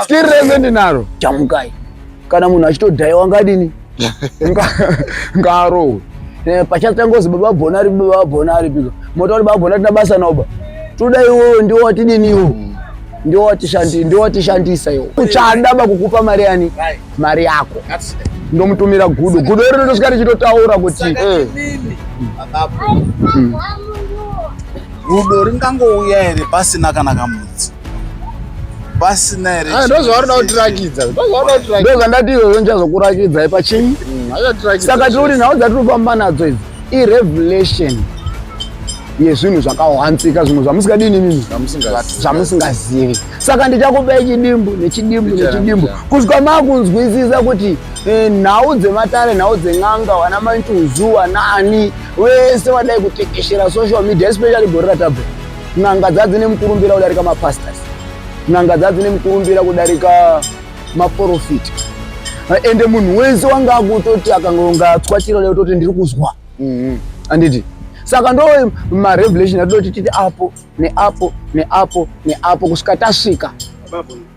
Skiri rese ndinaro. Chamukai. Kana munhu achitodhaiwa wangadini? Ngarowe. Eh, Pachatsa ngozi baba bona ari baba bona ari pika. Moto ari baba bona tina basa nawo ba. Toda iwo ndiwo watidini iwo. Mm. Ndiwo watishandi ndiwo watishandisa iwo. Uchada ba kukupa mari yani? Mari yako. Ndomutumira gudo. Gudo rino ndosvika richitotaura kuti eh. Gudo ringangouya here pasina kana kamudzi? pasina here ah, ndozvavanoda kutirakidza ndozvandati izvozvo ndichazokurakidzai pachii mm, saka tiri kuti nhau dzatiri kufamba nadzo idzi irevelation yezvinhu zvakahwanzika zvimwe zvamusingadii nemimi zvamusingazivi saka ndichakupai chidimbu nechidimbu nechidimbu kusvika makunzwisisa kuti eh, nhau dzematare nhau dzen'anga vana maintuzuwa naani wese vadai kutekeshera social media especially gorira tabhera N'anga dzadzine mukurumbira kudarika mapastors. N'anga dzadzine mukurumbira kudarika maporofiti. Ende munhu wese wanga akutoti akangonga atswa chiro leo toti ndiri kuzwa. Mhm. Anditi. Saka ndo ma revelation atoti titi apo neapo neapo neapo kusvika tasvika. Babu.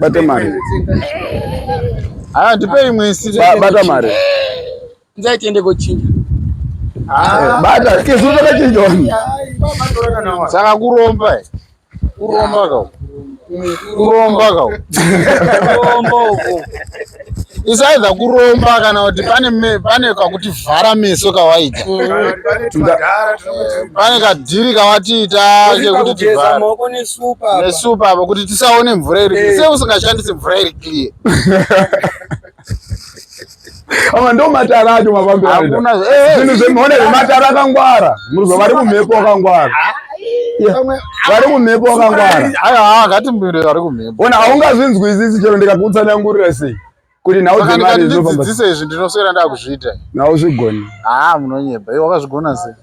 bate mari haa ndipei mwisi bata mari nzai tiende kochinja eh, bata kezuru takachinja wani saka kuromba eh? kuromba kau kuromba kau kuromba uko is either kuromba kana kuti pane pane kakuti vhara meso kawaita pane kadhiri kawatiita kekuti tivhara nesupa apa kuti tisaone mvura iri eh. se usingashandisi mvura iri clear ama ndo matara acho mafambirozvinhu eh, eh. zvemuone zvematara akangwara muruzo vari kumhepo wakangwara ah, vari kumhepo wakangwara haa ngatimbire vari kumhepo ona haungazvinzwisisi chero ndikakutsanangurira sei kuti nhau dzemari dzinofandidzidzisa izvi ndinoswera ndakuzviita nhau zvigoni haa munonyeba iwe wakazvigona sei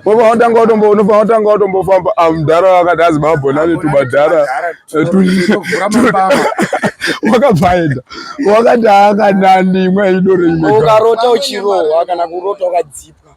unofanira kutanga watombofamba amudhara ah, wakati azi mabhona netubadhara wakabvaenda wakati akanani imwe aidore imwe ukarota uchirohwa kana kurota wakadzipa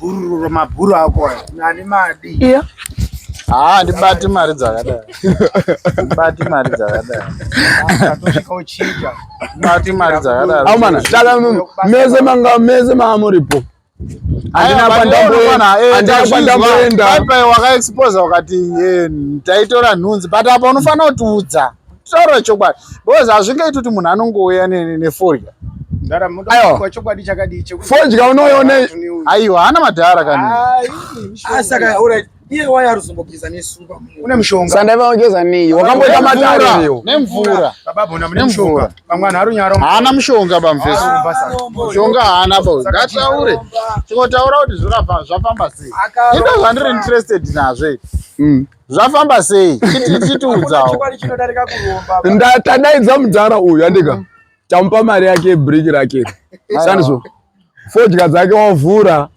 Bhururu mabhuru ako nani madi. Iya. Ah, ndibati mari dzakadai. Ndibati mari dzakadai. Atosvika uchinja. Ndibati mari dzakadai. Au mana, dala munhu. Meze manga meze maamuripo. Andina kwandamboenda. Eh, Andina kwandamboenda. Bye bye wakaexpose wakati eh, taitora nhunzi but apa unofanira kutiudza. taura chokwadi because hazvingaiti kuti munhu anongouya nefodya fodya unoiona aiwa haana madhara kanisandaivageza nei wakamboita matariyo nemvura haana mushonga bamfesi mushonga haana bo ngataure tingotaura kuti zvafamba sei indo zvandiri interested nazvo mm. zvafamba sei chitiudzawo tadaidza mudhara uyu andika mm. tamupa mari yake brick rake sandizvo fodya dzake wavhura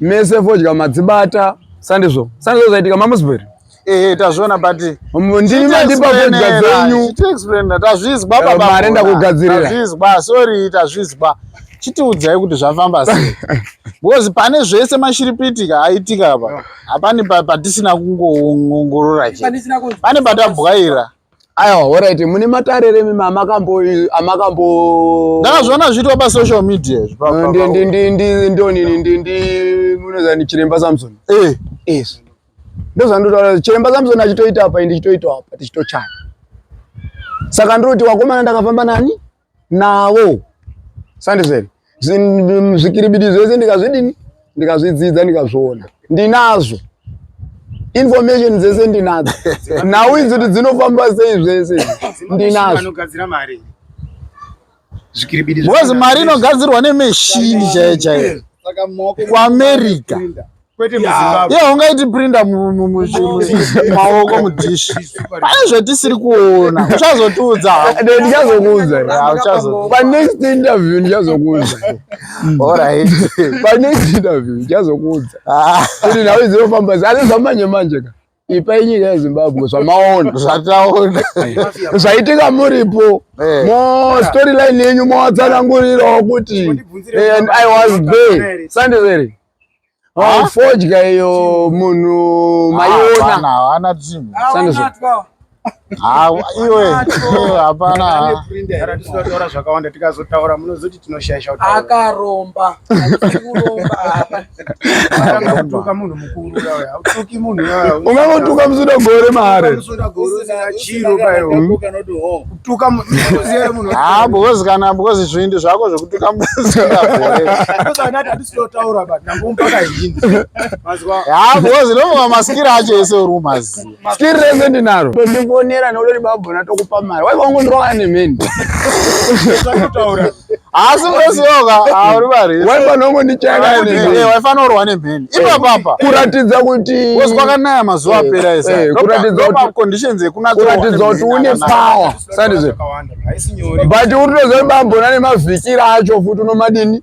mese fodya madzibata sandizvo sandizvo zvaitika mamusbury ehe tazviona but ndimi mandipa fodya dzenyu tazvizwa babamari ndakugadzirira tazvizwa sorry tazvizwa chitiudzai kuti zvafamba sei because pane zvese mashiripitika aitika apa hapani patisina kungoongorora che pane patabwaira aiwa horaiti mune matare remi amakambo ndakazviona zviitwa pasocial media ndonini chiremba samson yes ndozvandotaura chiremba samson achitoita apa ndichitoitawo apa tichitochaya saka ndinoti wakomana ndakafamba nani navo sandizveni zvikiribidi zvese ndikazvidini ndikazvidzidza ndikazviona ndinazvo information dzese ndinadzo nhau idzi kuti dzinofamba sei zvese ndinazvo because mari inogadzirwa nemeshini chaiyo chaiyo kuamerica kwete muzimbabwe yeah, ungaiti prinda mumaoko mudhishi pane zvatisiri kuona uchazotiudza ndichazokuudza panext interview ndichazokuudza orit panext interview ndichazokuudza ah. kuti nhau dzinofamba asi zvamanje manje ka ipai nyika yezimbabwe zvamaona zvataona zvaitika muripo eh. mo storyline yenyu mowatsanangurirawo kuti eh, and i was there sandizeri fodya iyo munhu maiona haana iwe hapana tizotaura zvakawanda tikazotaura munozoti tinoshaisha akaromba unotuka munhu mukuru autuki munhu ungangotuka musuda gore mare haa because kana because zvindi zvako zvekutuka musuda gore totaura but ndambompaka hini mazwa ha because no maskira acho ese uri umazi skiri rese ndinaro ndondifonera nolori babho natokupa mari waiva ungondiroka nemeni totaura haasi unosioka hauri mari waiva nongondichaya nemeni waifanira urwa nemeni ipapapa kuratidza kuti kozi kwakanaya mazuva apera ese kuratidza kuti conditions ekunakuratidza kuti une power sandizve but unotoziva babho nane mavhikira acho futi unomadini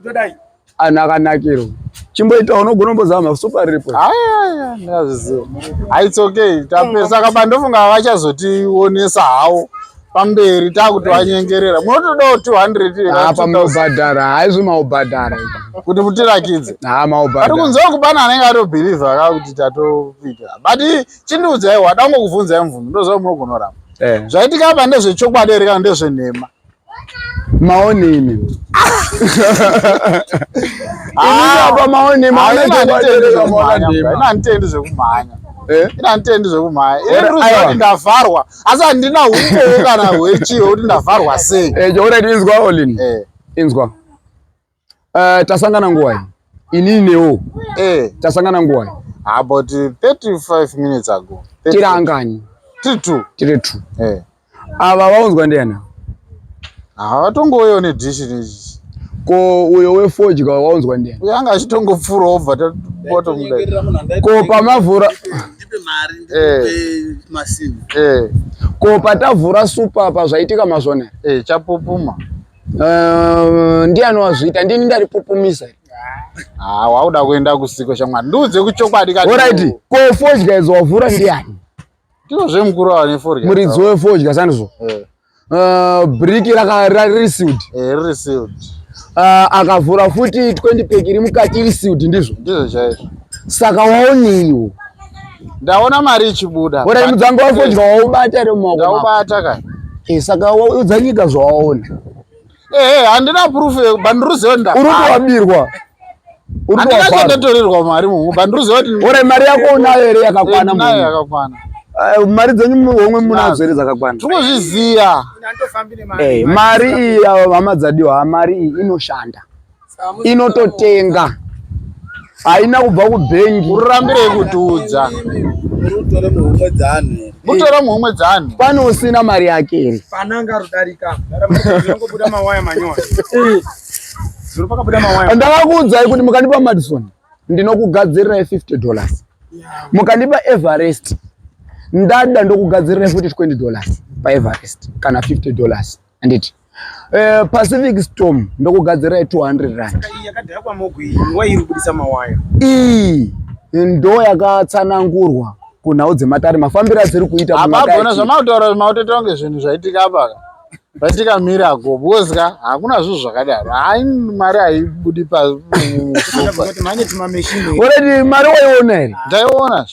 Ndodai. Anhu akanakirwa. Chimboita unogona kumbozama super rip. Aya, ndazviziva. Ah, it's okay. Tapesa kaba ndofunga havachazotionesa hawo. Pamberi takuti wanyengerera. Munotodawo 200 here? Ah, pamobhadhara. Haizvo maobhadhara. Kuti mutirakidze. Ah, maobhadhara. Ari kunzwa kubana anenge ari believe aka kuti tatopika. But chindiudzai wada kungokuvhunza mvumi ndoziva munogonoramba. Eh. Zvaitika apa ndezvechokwadi here kana ndezvenhema? maonini inapa maonini maonini zvekumhanya Eh? ina nditendi zvekumhaya ini ruziva kuti ndavharwa asi handina ukowo kana hwechii hwekuti ndavharwa sei eh, jokuti inzwa olin eh. inzwa Uh, tasangana nguwai? Inini newo. Eh, tasangana nguwai? About 35 minutes ago. Tiri angani? Tiri two. Tiri two. Eh. Ava vaunzwa ndiani? Havatongouyewo nedishi nechi ko uyo wefodya waunzwa ndiye uyo anga achitongopfura obva tapoto mudai ko pamavhura eh. eh. ko patavhura supa apa zvaitika mazvone eh, chapupuma Uh, ndiani wazviita ndini ndaripupumisa ah, wauda kuenda kusiko shamwari ndiudze kuchokwadi kaorit ko fodya idzo wavhura ndiani ndizvo zvemukuru ava nefodya muridzi wefodya sandizvo eh. uh, briki rakarisiud eh, Ah, akavhura futi 20 pack iri mukati iri sealed ndizvo ndizvo chaizvo saka waoneiwo Ndaona mari ichibuda. Bora mudzango wako dya waubata ere mumaoko. Ndaubata ka. Eh saka waudza nyika zvawaona. Eh, eh handina proof bandiruziwa nda. Uri kuwabirwa. Uri kuwabirwa. Ndatotorerwa mari mungu bandiruziwa kuti. Bora mari yako unayo ere yakakwana mungu. Nayo yakakwana. Eh, mari dzenyu homwe munadzo here dzakakwana tinozviziva eh, mari iyi hama dzadiwa mari iyi inoshanda inototenga haina kubva kubhengi urambirei kutiudza mutore muhomwe dzaanhu pane usina mari yake iri pananga rudarika ndakakuudzai kuti mukandipa madison ndinokugadzirirai 50 dollars mukandipa everest ndada ndokugadzirirai futi 20 dollars paeverest kana 50 dollars handiti eh, pacific storm ndokugadzira ye 200 rand iyi ndo yakatsanangurwa kunhau dzematare mafambiro adziri kuita apagona zvamautaura zvimautoita kunge zvinhu zvaitika apaka zvaitika miracle because ka hakuna zvinhu zvakadaro hai mari haibudi paoredi mari waiona here ndaiona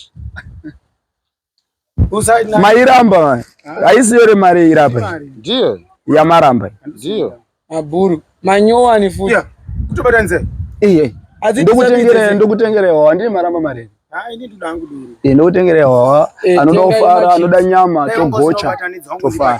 Mairamba mani. Haisi yore mari irapa. Ndiyo. Yamaramba. Ndiyo. Mabhuru. Manyowani futi. Yeah. Kutobata nze. Iye. Ndokutengere ndokutengere wawa ndine maramba mari. Hai ndini ndoda hangu duru. Ndokutengere wawa anoda kufara anoda nyama togocha. Tofara.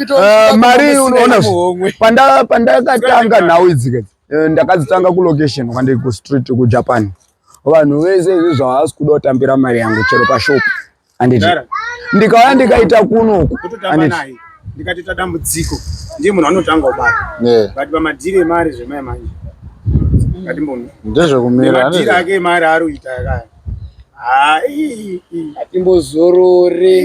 Eh, mari unoona pandakatanga nhau idzi eh, ndakadzitanga kulocation kwandiri kustreet kujapan vanhu vese izvi zvavasi kuda kutambira mari yangu chero pashop anditi ndikauya ndikaita kunoku ndikatoita dambudziko ndiye munhu anotanga kubata but pamadhiri emari zvemai manje ndezvekumira ake emari ari kuita yakaya hatimbozorore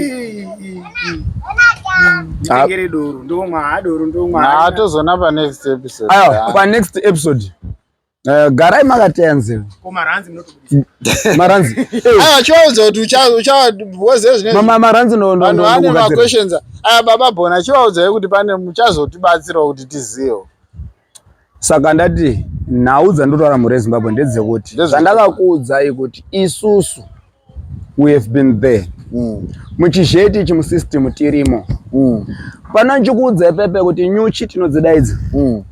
nditengere doro ndomwa ha doro ndomwa ha tozona pa next episode ayo pa next episode Uh, garai makateya nzeve maranzi chivaudza kuti uchavozezvema maranzi vanhu vane maquestions aya baba bona chivaudzai kuti pane muchazotibatsirawo kuti tizivewo saka ndati nhau dzandotaura mhuri yezimbabwe ndedzekuti zvandakakuudzai kuti isusu we have been there mm. muchizheti ichi musystem tirimo mm. pano ndichikuudzai pepe kuti nyuchi tinodzidaidzi mm.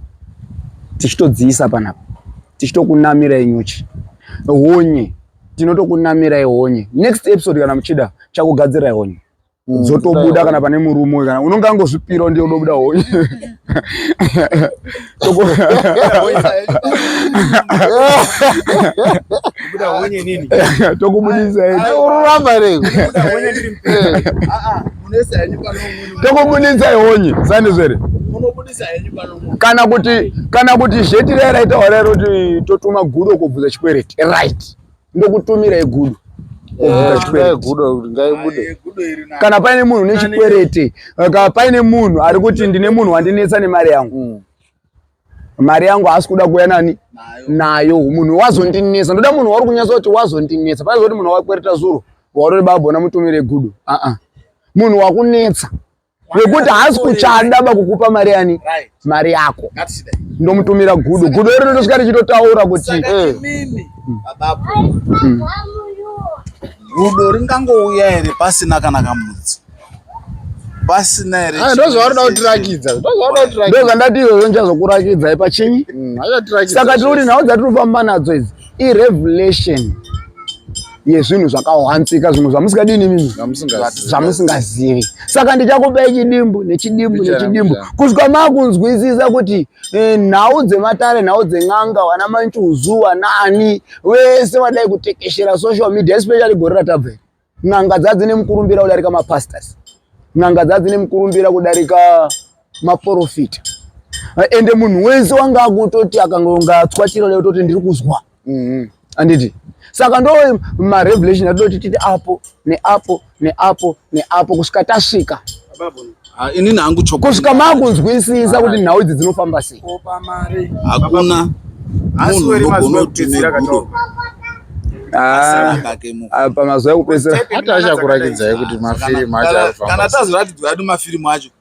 tichitodziisa panapa tichitokunamirai nyuchi honye tinotokunamirai honye next episode kana muchida chakugadzirai honye mm, dzotobuda kana pane murume kana unonge angozvipiro ndiye unobuda honye tokubudisai honye sandizvere kana kuti kana kuti zhetira yaraitawa rairo kuti totuma gudo kobvunza chikwereti right ndokutumira yegudo kana paine munhu nechikwerete kana paine munhu ari kuti ndine munhu wandinetsa nemari yangu mm. mari yangu haasi kuda kuuya nani nayo munhu wazondinetsa ndoda munhu wauri kunyatsa kuti wazondinetsa paaiza kuti munhu wakwereta zuro warori babona mutumire gudo aa munhu wakunetsa wekuti haasi kuchada bakukupa mari yani mari yako ndomutumira gudo gudo iri rotosvika richitotaura kuti eh. mm. gudo ringangouya here pasina kana kamudzi pasina here ah, ndozvaunoda kutirakidza ndozvandati izvozvo ndichazokurakidzai pachinyi mm, saka tiri kuti nhau dzatiri kufamba nadzo idzi irevelation yezvinhu zvakawanzika zvimwe zvamusingadini imimi zvamusingazivi saka ndichakupa chidimbu nechidimbu nechidimbu kusvika makunzwisisa kuti eh, nhau dzematare nhau dzen'anga vana manchuzu vanaani vese vadai kutekeshera social media especially gore ratabveri n'anga dzadzi nemukurumbira kudarika mapastors n'anga dzadzi nemukurumbira kudarika maprofita ende munhu wese wanga akutoti akanga ungatswa chiro leutoti ndiri kuzwa mm-hmm. anditi saka ndo marevelation atoti titi apo neapo neapo neapo kusvika tasvika ah, inini hangu chokwadi kusvika makunzwisisa kuti nhau idzi dzinofamba sei hakuna munhu unogonotizira katoo Ah, ah, pamazuva ekupedzisira hata achakuratidzai kuti mafirimu acho kana tazoratidzwa adi mafirimu acho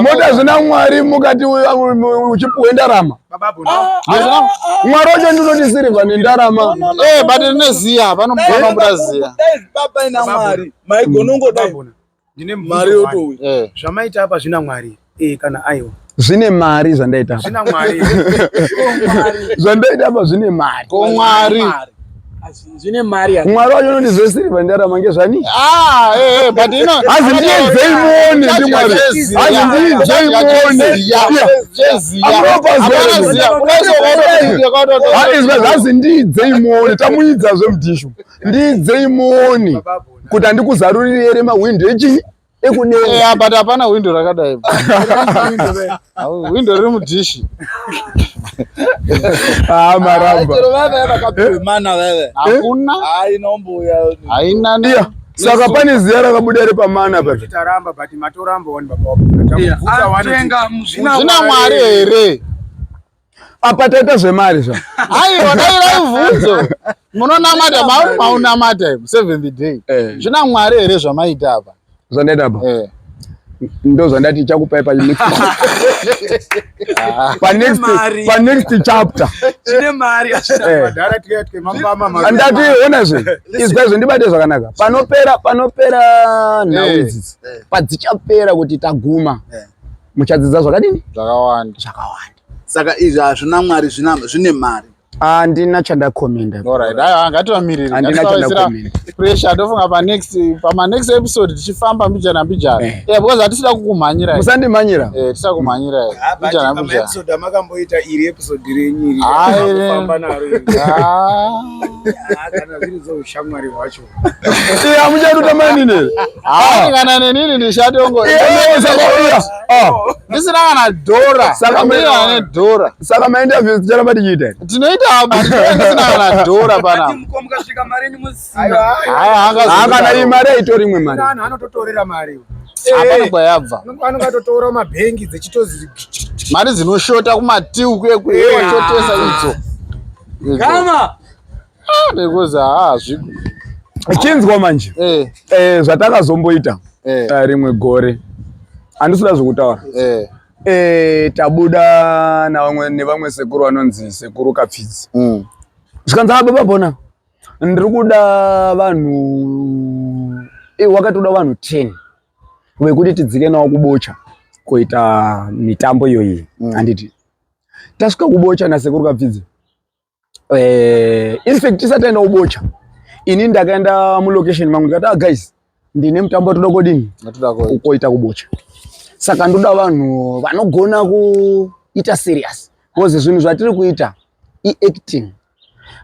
moda zvina mwari mukati uchipuhwe ndarama ah, mwari wacho ndinoti sirivha nendarama eh, but rine ziya vanomboda ziya ndine mari yotouya eh. zvamaita apa zvina mwari eh, kana aiwa zvine mari zvandaita apa zvine mari ko mwari Zvine mari yako. Mwari wangu ndi zve silver ndara mange zvani? Ah, eh, eh but you know. As in ye zve mone ndi mwari. As in ye zve mone. Yeah. Jezi. Amana zia. Kuneso kodo. That is well. As in ndi zve mone. Tamuidza zve mdishu. Ndi zve mone. Kuti andikuzarurire ere mahwindo echinyi? ekudenga eh, but hapana hwindo rakadai hwindo riri mudhishi ah, marambaaana eh? haina saka pane ziya rakabuda ri pamana pazvina mwari here apa taita zvemari zva aiwa dai raivhunzo munonamata mauri maunamata im seven the day eh. zvina eh. mwari here zvamaita apa zvandaita apa eh. ndo zvandati ichakupai panext ah. chapter andati eh. onazve izwaizvo ndibate zvakanaka panopera panopera nhau idzidzi padzichapera kuti taguma muchadzidza zvakadini zvakawanda zvakawanda saka izvi hazvina mwari zvine mari handina chandakomenda ngativamirirpressure ndofunga panext pamanext episode tichifamba mbijana mbijana eh. eh, because hatisida kukumhanyira musandimhanyira eh, tisida kumhanyira mbijana mbijanaamakamboita iri episode renyu iri ah, ah. kana zviri zvoushamwari hwacho amuchatuta mainini ah. kana nenini ndichatongo ah. ndisina kana dhora saka ane dhora saka mainterviews ticharamba tichiita tinoita ndisina kana dhora panaaakana iyi mari aitori imwe mari anototorera mari hapana eh. kwayabva anonga atotora mabhengi dzechitozi mari dzinoshota kumatiu kuye kuye eh. wachotesa idzo gama ah, because haazvi ah, chinzwa manje eh. Eh, zvatakazomboita eh. eh. rimwe gore handisida zvekutaura eh. eh, tabuda navamwe nevamwe sekuru vanonzi sekuru kapfidzi mm. zvikanzi haa baba bona ndiri kuda vanhu eh, wakatoda vanhu ten vekuti tidzike nawo kubocha kuita mitambo iyoyi mm. handiti tasvika kubocha nasekuru kapfidzi eh, in fact tisati aenda kubocha ini ndakaenda mulocation mangu ndikati ah, guys ndine mutambo watoda kodini ukoita kubocha saka ndoda vanhu vanogona kuita serious bcause zvinhu zvatiri kuita iacting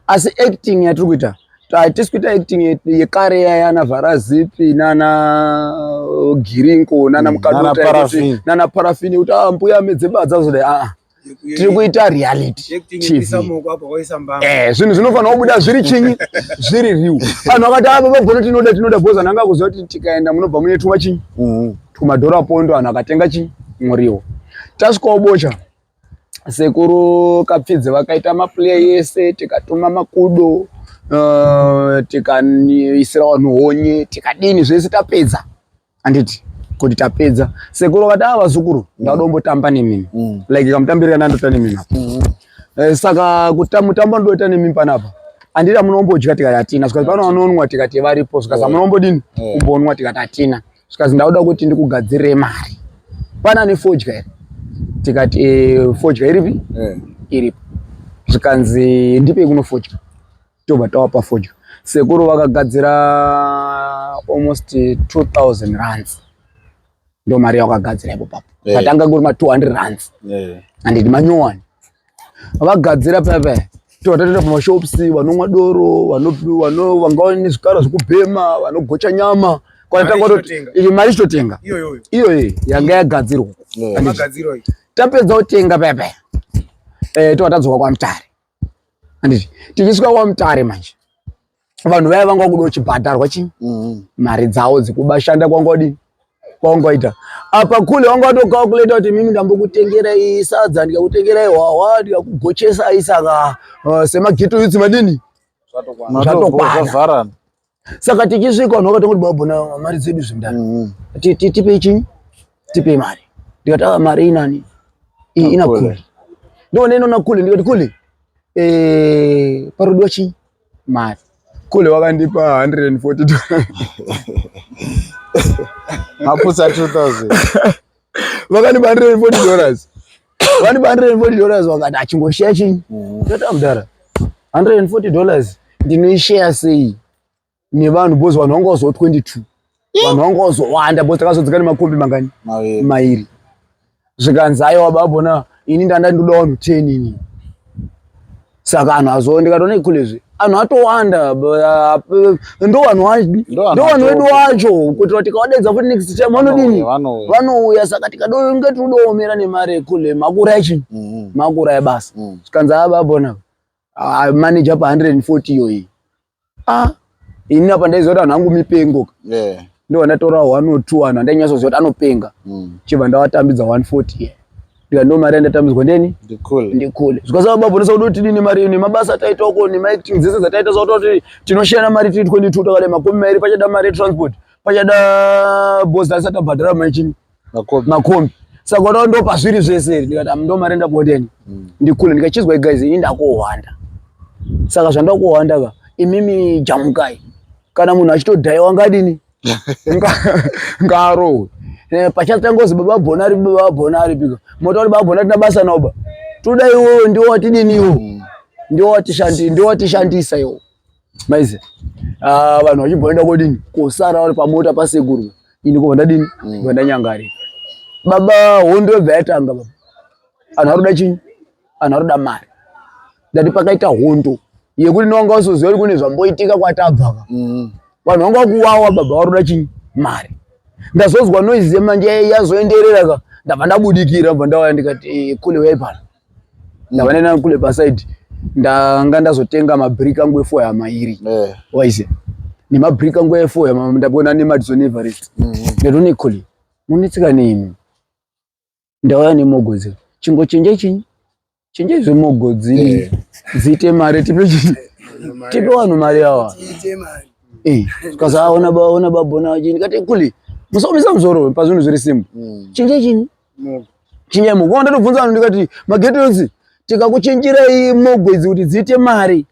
asi acting yatiri kuita hatisi kuita acting yekare yayana vharazipi nana uh, girinko nana mm, mukadnana parafini yekuti ah, mbuya medzebadza zodai aa ah, ah. tiri kuita reality eh, zvinhu zvinofanira kubuda zviri chinyi zviri riu vanhu vakati ava ah, vagona tinoda tinoda bhoza nanga kuziva kuti tikaenda munobva mune tuma chinyi mm-hmm. tumadhora pondo vanhu akatenga chinyi muriwo tasvikawo bocha sekuru kapfidze vakaita maplay yese tikatuma makudo uh, tikaisira vanhu honye tikadini zvese tapedza anditi kuti tapedza sekuru vakati ava ah, zukuru ndauda umbotamba nemimi mm. like kamutambirira ndandoita nemimi apa mm. eh, saka mutambo ndoita nemimi panapa anditi amunombodya tikati hatina zvikazi pano vanonwa tikati varipo zvikazi amunombodini mm. mm. kumbonwa tikati hatina zvikazi ndauda kuti ndikugadzirire mari pana ane fodya here tikati eh, fodya iripi eh. iripo zvikanzi ndipei kunofodya tobva tava pafodya sekuru vakagadzira almost 2000 rands ndo mari yakagadzira ipo papo eh. patanga kuri ma 200 rands eh. andidi manyowani vagadzira pepe tovatatoita pamashops vanomwa doro vanga vane zvikara zvekubhema vanogocha nyama kwanatangaiyi mari chitotenga iyoyi yanga yagadzirwa tapedza kutenga pepe eh, tova tadzoka kwamutare handiti tichisvika kwamutare manje vanhu vaya vanga vakuda uchibhadharwa chii mm-hmm. mari dzavo dzekubashanda kwanga wadini kwaungaita apa kule wanga watokakuleta kuti mimi ndambokutengerai sadza ndikakutengerai hwahwa ndikakugochesai saka uh, semageto yutsi madini zvatokwana saka tichisvika vanhu vakatanga kuti baba na mari dzedu zvindani mm -hmm. tipei chinyi tipei mari ndikati ava ah, mari inani iyi ina kuli ndoona inona kuli ndikati kuli eh, parudiwa chinyi mari kule wakandipa 140 mapusa 2000 vakani bandire 40 dollars vani ba 140 dollars wakati achingoshare chinyi tata mm. mdara 140 dollars ndinoishare sei nevanhu bos vanhu vanga vazowa 22 vanhu vanga vazowanda bos takazodzika nemakombi mangani mairi zvikanzi aiwa babona ini ndanda ndoda vanhu 10 ini saka anhu azowa ndikatona ikulezvi anhu atowanda ndovanhu ndovanhu vedu wacho kuitira tikavadedza futi next time vanodini vanouya saka tikadonge tiudoomera nemari ekule makura echi mm-hmm. makura ebasa mm. zvikanzi ababona ah, manager pa 140 iyoyi ah ini apa ndaiziva kuti hangu mipengo yeah. ndo vandatora one or two anhu andainyasoziva kuti anopenga mm. chibva ndavatambidza 140 yeah ndika ndo mari yandatambidzwa ndeni ndikule zvikasava baba nesa kuti tidini mari nemabasa ataita uko nemaacting dzese dzataita sakuti kuti tinoshayana mari tiri 22 takale makumi mairi pachada mari yetransport pachada bos asati abhadhara maichini makombi makombi saka wataura ndo pazviri zvese ndikati am ndo mari ndakuodeni mm. ndikule ndikachizwa guys ini ndakuhwanda saka zvandakuhwanda ka imimi jamukai kana munhu achitodhaiwa ngadini ngarohwe eh, pachatangozi baba bonari baba bonari pika motauri baba bonari tina basa naoba toda iwoyo ndiwo watidini iwo mm. ndiwo watishandisa iwo maize ah, vanhu vachibhoenda kodini kosara vari pamota pasekuru ini kobva ndadini mm. bva ndanyangarira baba hondo yobva yatanga baba anhu aruda chinyi anhu aruda mari ndati pakaita hondo yekuti nowanga wasoziva kuti kune zvamboitika kwatabvaka mm. vanhu vanga vakuwawa baba varuda chinyi mari ndazonzwa noise yemanje yazoenderera ka ndabva ndabudikira bva ndawaya ndikati eh, kule wayipana ndavane nani kule pasaidi ndanga ndazotenga mabrick angu efo yama iri eh. waize nemabrick angu efo yama ndabona nemadison everest mm -hmm. nderonikoli munetsika nemi ndauya nemogodzi chingo chenje chinyi chenje zvemogodzi eh. dziite mari tipe chinyi tipe vanhu mari awa eh, kasaona baona babona chini kati kuli musaomesa muzoro pazvinhu zviri simbu mm. chinje chinyi chinyama kwava ndatobvunza vanhu ndikati magetos tikakuchinjirai mogwedzi kuti dziite mari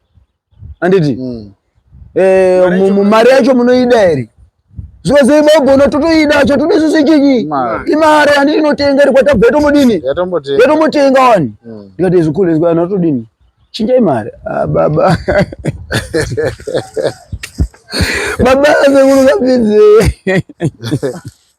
handiti hmm. eh, mari yacho munoida here zvikozei mogona totoida cho tode susu chinyi imari handiti inotenga iri kwatabva yatomodini yatomotenga wani hmm. ndikati zvikule zvikana totodini chinjai mari ah, baba baba asekuru kapinzee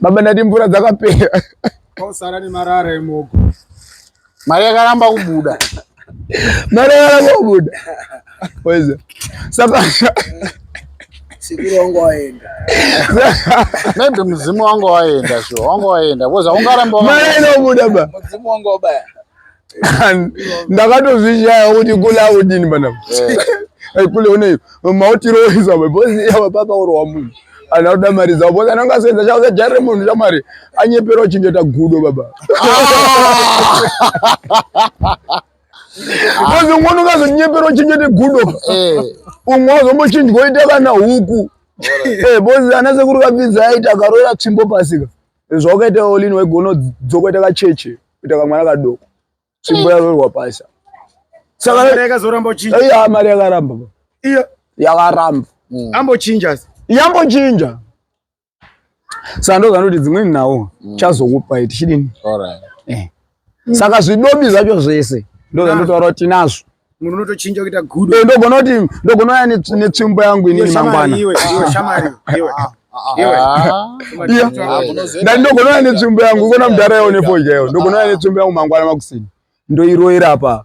baba ndati mvura dzakapera kwausara nemarara emoko mari yakaramba kubuda mari yakaramba kubuda weza saka sikurongwa waenda maybe mudzimu wanga waenda sho wanga waenda bcoz aungaramba mari inobuda ba mudzimu wanga wabaya ndakatozvishaya kuti kulaudini pana eh. kule une mautiroisa mabhoziyava papa urwa munhu anhu akuda mari dzavo bhozi anenge asenza chauza jari remunhu chamari anyepera uchengeta gudo baba bhozi ah. umweni ungazonyepera uchengete gudo eh. umwe wazombochinjwa oita kana huku bhozi eh, ana sekuru kapinza aita akaroera tsvimbo pasika zvawakaita olin waigona dzoka ita kacheche kuita kamwana kadoko tsvimbo yarorwa pasa saka mari yakaramba iyo yakaramba mm. ambochinja yambochinja saka ndozvanoti dzimweni nhau mm. chazokupai tichidini eh. mm. saka zvidobi zvacho zvese ndozvandotaura kuti tinazvo munhu unotochinja kuita gudo eh, ndogona kuti ndogona uya netsvimbo yangu inini mangwana ndani ndogona uya netsvimbo yangu ikona mudhara yawo nefodya yawo ndogona uya netsvimbo yangu mangwana makusini ndoiroira paa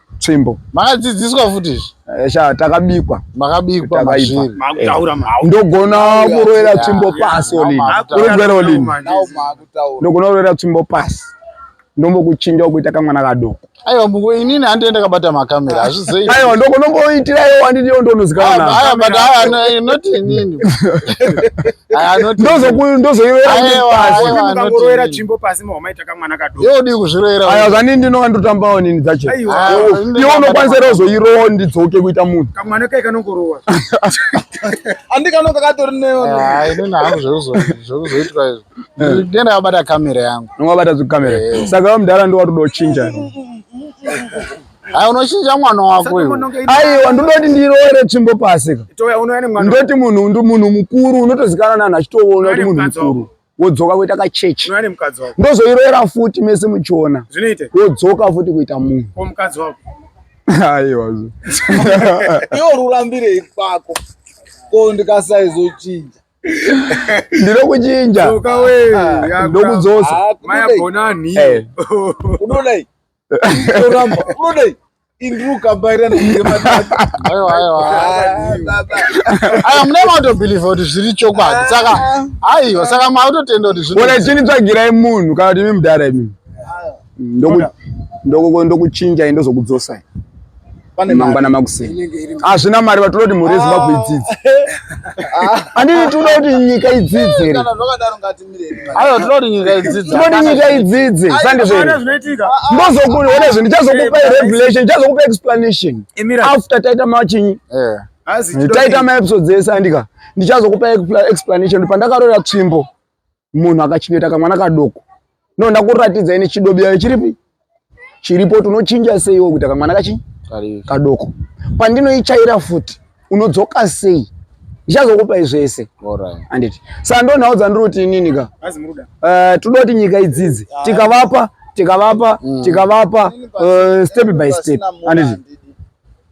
tsvimbo makadzidziswa futi izvi eh, sha takabikwa makabikwa mazviri makutaura eh. ndogona kuroera tsvimbo pasi olini urugwere olini ndogona kuroera tsvimbo pasi ndombokuchinja kuita kamwana kadoko aiwa mbuko inini handi enda kabata makamera hazvizei aiwa ndoko ndomboitira iwo handi ndiyo ndonozikana aiwa but aiwa no, eh, not inini aiwa not ndozoku ndozoiwera pasi aiwa ndozoiwera chimbo pasi mwa maita kamwana kadoko. Yeo dii kuzviroera. Aya zvani ndinova ndotambawo nini dzacho. Ah, Iwo unokwanisa ro zoirowa ndidzoke kuita munhu. Kamwana kai kanongorowa. Andi kanonga katori neyo. Ah, ini na hangu zvozo zvozoitwa izvo. Eh. Ndenda abata kamera yangu. Ngwabata zu kamera. Eh. Saka mdara ndo watodo chinja. Hai unochinja mwana wako uyu. Aiwa ndinoti ndiroere tsvimbo pasi. Ndoti munhu ndi munhu mukuru unotozikana nanhu achitoona kuti munhu mukuru. wodzoka kuita kachechi ndozoiroera futi mese muchiona wodzoka futi kuita munhu aiwa iwo rurambirei kwako ko ndikasaizochinja ndino kuchinja ndokudzosa eh. Toramba. Unodei? Indru kabaira nematatu. Ayo ayo. Ayo mune mato believe kuti zviri chokwadi. Saka aiwa saka mautotenda kuti zviri. Bona chini tsvagirai munhu kana kuti mimdara imi. Ndoku ndoku ndokuchinja indozokudzosa. mangwana makuseni hazvina mari vatinoti mhuri yezimbabwe ah. idzidze anditi tinoda kuti nyika idzidze aiwa tinoda kuti nyika idzidze tinoda nyika idzidze sandizvene ndozokuona ah, ah. zve ndichazokupa revelation ndichazokupa explanation after taita machinyi eh. taita maepisodes ese andika ndichazokupa explanation pandakarora tsvimbo munhu akachengeta kamwana kadoko no ndakuratidzai nechidobiyayo chiripi chiripo kuti unochinja seiwo kuita kamwana kachi kadoko pandinoichaira futi unodzoka sei ndichazokupai zvese anditi saka ndo nhau dzandiri kuti inini ka eh, toda kuti nyika idzidze ah. tikavapa tikavapa mm. tikavapa eh, step by step anditi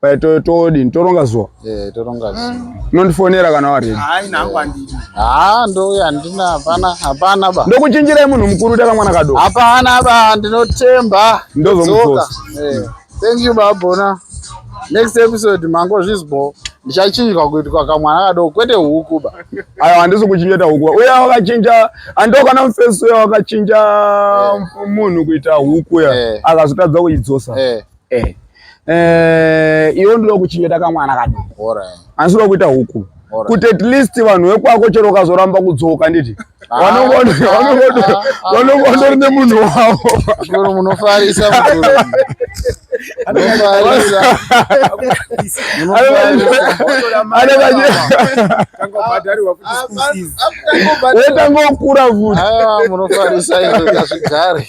Pai to todini toronga zuwa. Eh toronga zuwa. Mm. Unondifonera kana wari. Hayi nangu andidi. Ah ndouya ndina hapana hapana ba. Ndokuchinjirai munhu mukuru taka mwana kado. Hapana ba ndinotemba. Ndozomuzoka. Eh. Thank you babona. Next episode mango zvizbo ndichachinjwa kuitwa kamwana kadoko kwete huku ba. Ayo handisi kuchingeta huku. Uya wakachinja ando kana mfeso uya wakachinja eh. munhu kuita huku ya. Eh. Akazotadza kuidzosa. Eh. eh eh iwe ndinoda kuchengeta kamwana kadi asi unoda kuita huku kuti at least vanhu vekwako chero ukazoramba kudzoka nditi vanongotori nemunhu wavo munofarisa wetangokura futi munofarisa zvigare